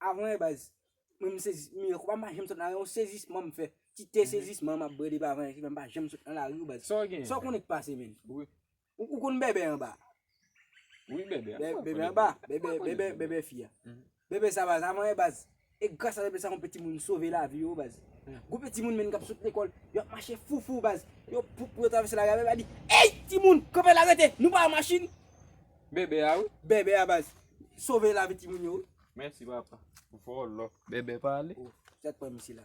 Avan e baz, mwen m sezi, m yo konpa m pa janm sot nan lari, on sezisman m fè. Ti te sezisman m ap brode pa avan e ki fè m pa janm sot nan lari w baz. Sa w gen? Sa w konnen k pase menn? Wi. Ou ou konn bèbè anba? Wi bèbè a. Bè, Mwen bèbè konnen anba, bèbè. bèbè, Mwen konnen bèbè, bèbè. bèbè fi a. Bèbè sa baz, avan e baz, e gras a bèbè sa on piti moun sove lavi yo baz. Gwo piti moun menn k ap sot lekòl, yo ap mache foufou baz, yo pou pou yo travèse lari a bèbè a di, Ey! Timoun, kanpe la rete, nou pa an machin! Bèbè a wi. Bèbè a baz. Sove lavi timoun yo wi. Mèsi papa. Vòlò. Bèbè pale. Oh sak pran misye la.